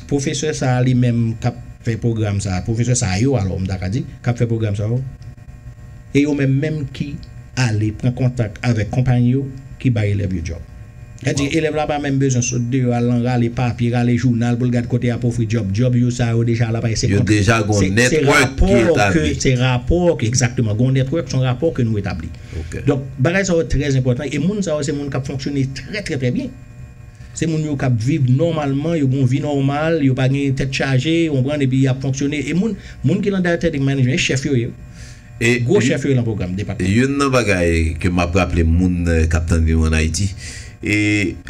pwofesè sa a li menm kap fè pwogram sa a pwofesè sa yo alò m ta ka di kap fè pwogram sa yo. E yo menm menm ki ale pran kontak avèk konpayi yo ki bay elèv yo djòb. Sètadi, elèv la pa menm bezwen sot deyò al lan rale papye, rale jounal pou l gad kote y ap ofri djòb. Djòb yo sa yo deja la bay se kontra. Se rapò ke, se rapò ke, egzakteman, gon network, son rapò ke nou etabli. Donk, bagay sa yo trè enpòtan e moun sa yo se moun k ap fonksyone trè trè trè byen. Se moun yo k ap viv nòmalman, yo gen yon vi nòmal, yo pa gen tèt chaje, ou konprann, epi y ap fonksyone. E moun, moun ki nan Dietetic Management, e chèf yo ye wi. Gwo chèf yo ye lan pwogram depatman. Youn nan bagay ke m ap raple moun k ap tande nou ann Ayiti, e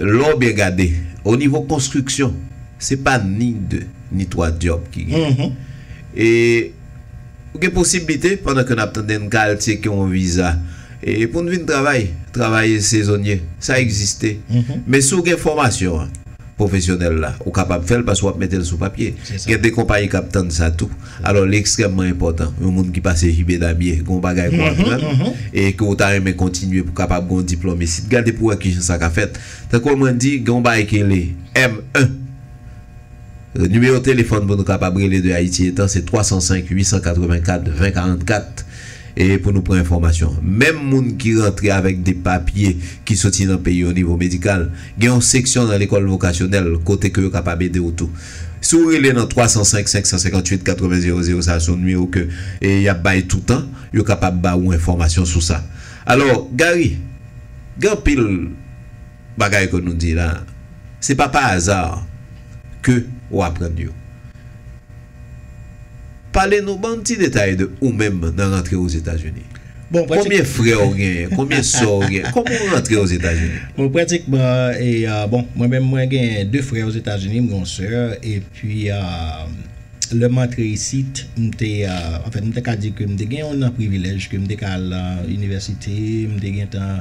lè w byen gade, o nivo konstriksyon, se pa ni 2, ni 3 dyòb ki genyen. E. Ou gen posiblite pandan ke nap tande n ka al tyeke yon viza e pou n vin travay, travay sezonye sa egziste men si w gen fòmasyon an pwofesyonèl la ou kapab fè l paske wap mete l sou papye gen de konpayi kap tann sa tou alò li ekstrèmman enpòtan yon moun ki pase JB Damie gen yon bagay pou aprann e ke ou ta renmen kontinye pou kapab gen yon diplòm isit gade pou wè kijan sa ka fèt tankou mwen di gen yon bagay ki rele M1. Nimewo telefòn pou nou kapab rele de Ayiti etan se 305 884 20 44 e pou nou pran enfòmasyon. Menm moun ki rantre avèk de papye ki soti nan peyi o nivo medikal, gen yon seksyon nan lekòl vokasyonèl kote ke yo kapab ede ou tou. Si ou rele nan 305 558 80 00 sa se yon nimewo ke y ap bay toutan, yo kapab ba ou enfòmasyon sou sa. Alò, Gary, gen anpil. Bagay ke nou di la, se pa pa hasard ke ou aprann yo. Pale nou, ban ti detay de ou menm nan rantre Ozetazini. Konbyen frè ou genyen? Konbyen sè ou genyen? Koman ou rantre Ozetazini? Bon, pratikman, bon, mwen menm mwen genyen 2 frè Ozetazini, m gen yon sè, epi lè m antre isit, m te, anfen, m te ka di ke m te gen yon nan privilèj ke m te ka al nan inivèsite, m te gentan.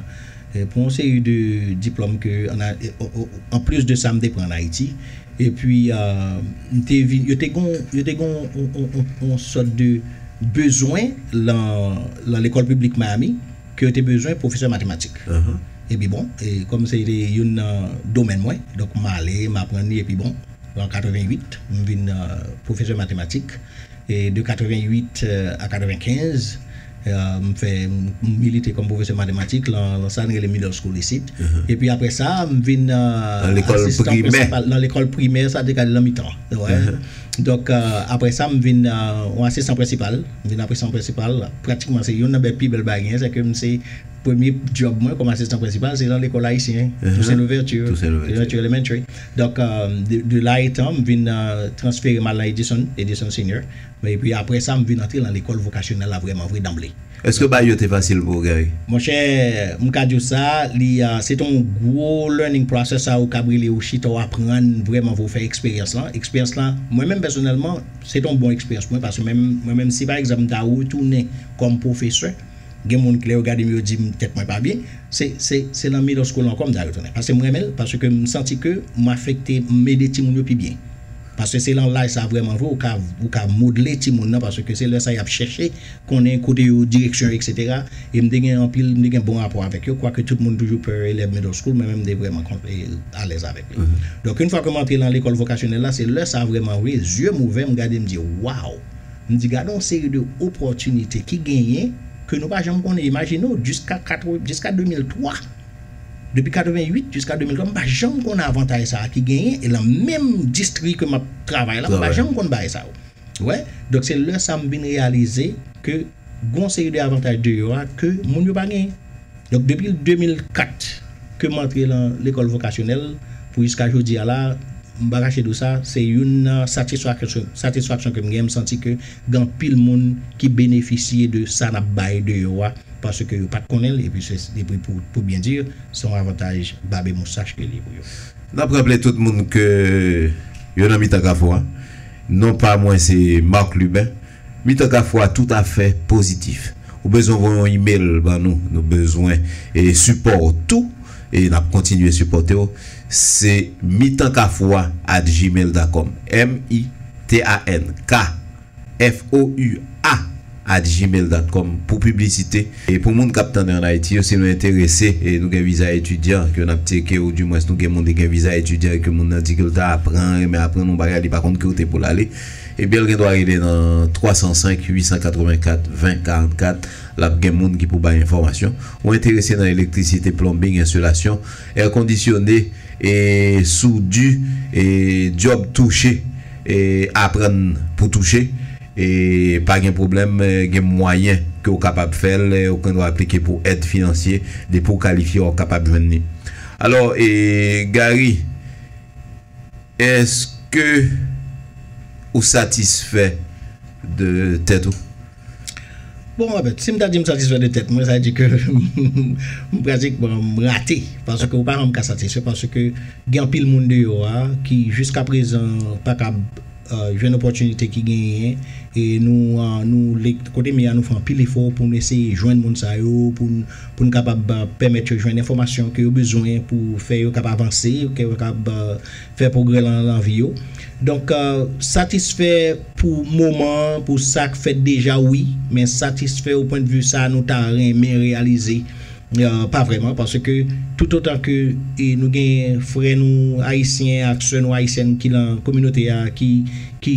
Pou yon seri de diplòm ke an plis de sa m te pran an Ayiti. E pi m te vin, yo te gen yo te gen yon sòt de bezwen lan lekòl piblik Miami ke yo te bezwen pwofesè matematik. E pi bon, kòm se te youn nan domèn mwen, donk m ale, m aprann li e pi bon, an 88 m vin pwofesè matematik. E de 88 a 95, m fè, m milite kòm pwofesè matematik lan sa n rele middle school isit. Epi apre sa, m vin asistan prensipal lan lekòl primè, sa te ka lan mitan an, wè. Donk, apre sa, m vin yon asistan prensipal. M vin asistan prensipal, pratikman se youn nan bè pi bèl bagay genyen, sèke m se premye djòb mwen kòm asistan prensipal se lan lekòl ayisyen, Toussaint Louverture, Louverture Elementary. Donk, de la etan, m vin transfere m al nan Edison, Edison Senior. Epi apre sa, m vin antre lan lekòl vokasyonèl la vrèman vre danble. Èske bagy yo te fasil pou ou, Gary? Monchè, m ka di w sa, li se te yon gwo learning process a ou kab rele ou chita ou aprann vrèman vre, ou fè eksperyans lan. Eksperyans lan, mwen menm pèsonèlman, se te yon bon eksperyans pou mwen paske mwen menm, mwen menm si pa egzanp m ta retounen kòm pwofesè, Gen moun k lè yo gadem yo dim tèt mwen pa byen se se se lan middle school ankò m ta retounen paske m renmenl paske m santi ke m afekte m ede timoun yo pi byen paske se lan laj sa vrèman vre ou ka ou ka modle timoun nan paske se lè sa yap chèche konnen kote yo direksyon yo etc e m te gen anpil m te gen bon rapò avèk yo kwake tout moun toujou pè elèv middle school mwen menm m te vrèman kont e alèz avèk li donk yn fwa ke m antre lan lekòl vokasyonèl la se lè sa vrèman vre zye m ouvè m gade m di waw M di gade yon seri de opòtinite ki genyen ke nou pa janm konnen. Imajine w jiska 80, jiska 2003, depi 88 jiska 2003 m pa janm konnen avantay sa a ki genyen e lan menm distri ke m ap travay la m pa janm konn bagay sa yo. Ou wè? Donk se lè sa a m vin reyalize ke gon seri de avantaj deyò a ke moun yo pa genyen. Donk depi 2004 ke m antre lan lekòl vokasyonèl pou jiska jodi a la, m pa kache di w sa, se youn nan satisfaksyon ke m gen, m santi ke gen anpil moun ki benefisye de sa n ap bay deyò a paske yo pa t konnen l epi se epi pou byen di se yon avantaj bab e moustach ke li ye pou yo. N ap raple tout moun ke yo nan mitan kafou a. Non pa mwen se Marc Lubin. Li tank a fwa tout afè pozitif. Ou bezwen voye yon email ban nou. Nou bezwen sipò w tou e n ap kontinye sipòte w. Se mitankafwa at gmail da kòm, m i t a n k f o u a at gmail dat kòm pou piblisite. E pou moun k ap tande ann Ayiti yo, si nou enterese e nou gen viza etidyan ke n ap tyeke ou dimwens nou gen moun ki gen viza etidyan e ke moun nan di ke l ta apran renmen aprann yon bagay li pa konn kote pou l ale, Ebyenl gen dwa rele nan 305 884 20 44 lap gen moun ki pou bay enfòmasyon. Ou enterese nan elektrisite, plonbing, ensilasyon, èkondisyone, e soudi, e dyòb touche, e aprann pou touche, e pa gen pwoblèm gen mwayen ke ou kapab fèl, ou gen dwa aplike pou èd finansye, depi ou kalifye wap kapab jwenn li. Alò e Gary. Eske ou satisfè de tèt ou? Bon anfèt, si m ta di m satisfè de tèt mwen, sa vle di ke m pratikman m rate. Paske ou pa janm ka satisfè paske gen anpil moun deyò a ki jiska prezan pa kab jwenn opòtinite ki genyen e nou kote m ye a nou fè anpil efò pou nou eseye jwenn moun sa yo pou n. pou n kapab pèmèt yo jwenn enfòmasyon ke yo bezwen pou fè yo kab avanse, ke yo kab fè pwogrè lan lan vi yo. Donk satisfè pou moman an, pou sa k fèt deja wi, men satisfè o pwen de vi sa nou ta renmen reyalize pa vrèman paske toutotan ke nou gen frè nou ayisyen ak sè nou ayisyèn ki lan kominote a ki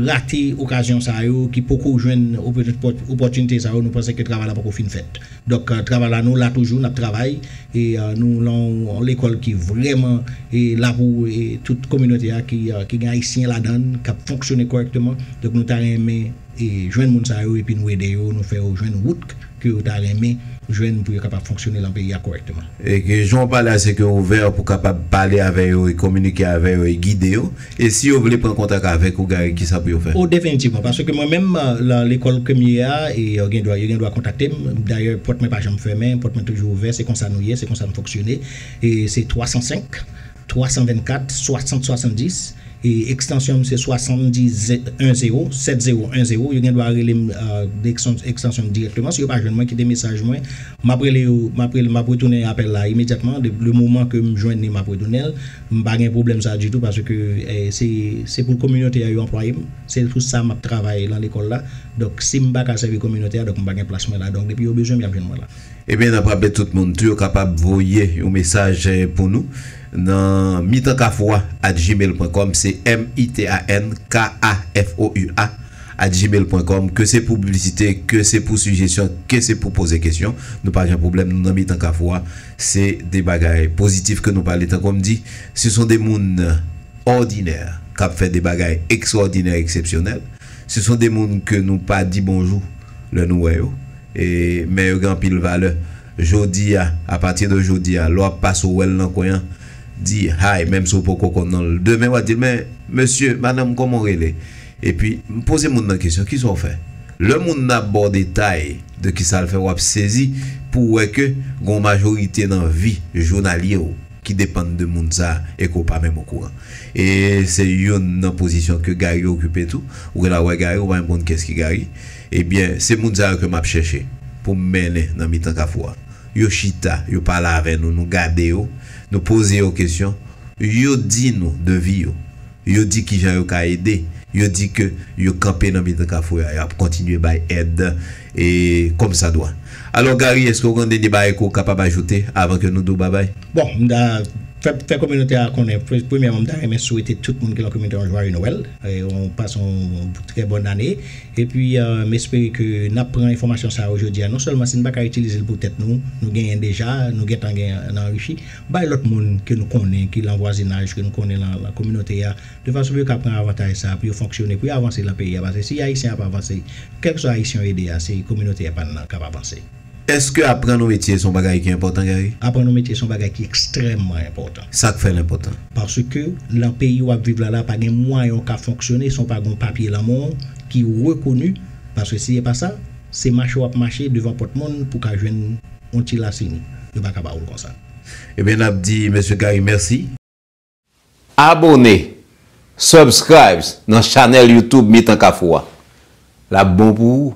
rate okazyon sa yo, ki poko jwenn opòtinite sa yo nou panse ke travay la poko fin fèt. Donk travay la nou la toujou nap travay e nou lan yon lekòl ki vrèman la pou tout kominote a ki gen ayisyen ladann kap fonksyone kòrèkteman donk nou ta renmen jwenn moun sa yo epi nou ede yo nou fè yo jwenn wout ke yo ta renmen jwenn pou yo kapab fonksyone lan peyi a kòrèkteman. E ke jan ou pale a se ke ouvè pou kapab pale avè yo e kominike avè yo e gide yo. E si yo vle pran kontak avèk ou Gary kisa pou yo fè? O definitivman, paske mwen menm lan lekòl kem ye a e yo gen dwa yo gen dwa kontakte m, dayè pòt mwen pa janm fèmen, pòt mwen toujou ouvè, se konsa nou ye, se konsa m fonksyone e se 305 324 60 70 e ekstansyon m se 70 10 70 10, yo gen dwa rele m ekstansyon m dirèkteman, si yo pa jwenn mwen kite mesaj mwen, map rele yo map retounen apèl la imedyatman, le moman ke m jwenn li map retounen l. M pa gen pwoblèm sa ditou paske se pou kominote a yo anplwaye m, se pou sa m ap travay lan lekòl la. Donk si m pa ka sèvi kominote a, donk m pa gen plas mwen la. Donk depi yo bezwen m, y ap jwenn mwen la. Ebyen n ap raple tout moun tou yo kapab voye yon mesaj pou nou nan mitankafoua at gmail pwen kòm, se m-i-t-a-n-k-a-f-o-u-a at gmail pwen kòm, ke se pou piblisite, ke se pou sijesyon, ke se pou poze kesyon, nou pa gen pwoblèm, nou nan mitan kafoua. Se de bagay pozitif ke nou pale tankou m di, se son de moun òdinè k ap fè de bagay ekstròdinè, eksepsyonèl. Se son de moun ke nou pa di bonjou lè nou wè yo, men yo gen anpil valè. Jodi a, apati de jodi a, lè w ap pase w wè l nan kwen an, di hi, menm si w poko konn non l. Demen w a di l men, mesye, madanm, kòman w rele? Epi, m poze moun nan kesyon, kisa w fè? Lè moun nan ap ba w detay de kisa l fè, w ap sezi pou w wè ke gen yon majorite nan vi jounalye w ki depann de moun sa a e ke w pa menm okouran. E se youn nan pozisyon ke Gary okipe tou. Ou gen lè ap wè Gary, ou pa menm konn kiyès ki Gary. Ebyen, se moun sa yo ke m ap chèche pou m mennen nan mitan Kafou a. Yo chita, yo pale avè nou, nou gade yo, nou poze yo kesyon, yo di nou de vi yo. Yo di kijan yo ka ede. Yo di ke yo kanpe nan mitan kafou a, yap kontinye bay èd e kòm sa dwa. Alò Gary, eske ou gen dènye bagay ke ou kapab ajoute avan ke nou di ou babay? Bon, m ta fè kominote a konnen, premyèman m ta renmen swete tout moun ki lan kominote a yon jwaye Nwèl, yon pase yon trè bòn ane. Epi m espere ke nap pran enfòmasyon sa yo jodi a, non sèlman si n pa ka itilize l pou tèt nou, nou genyen deja, nou gentan gen nan anrichi. Bay lòt moun ke nou konnen ki lan vwazinaj, ke nou konnen lan lan kominote a, de fason pou yo ka pran avantaj sa a, pou yo fonksyone, pou yo avanse lan peyi a, paske si Ayisyen ap avanse, kèlkeswa Ayisyen yo ede a, se kominote epa n lan kap avanse. Eske aprann yon metye se yon bagay ki enpòtan, Gary? Aprann yon metye se yon bagay ki ekstrèmman enpòtan. Sa k fè l enpòtan? Paske lan peyi w ap viv la la, pa gen mwayen w ka fonksyone san w pa gen yon papye lan men w ki rekoni, paske si epa sa, Se mache wap mache devan pòt moun pou ka jwenn yon ti lasin yo paka ba oul konsa. Ebyen nap di mesye Gary mèsi. Abone, subscribes, nan chanèl YouTube mitan kafou a. Lap bon pou ou.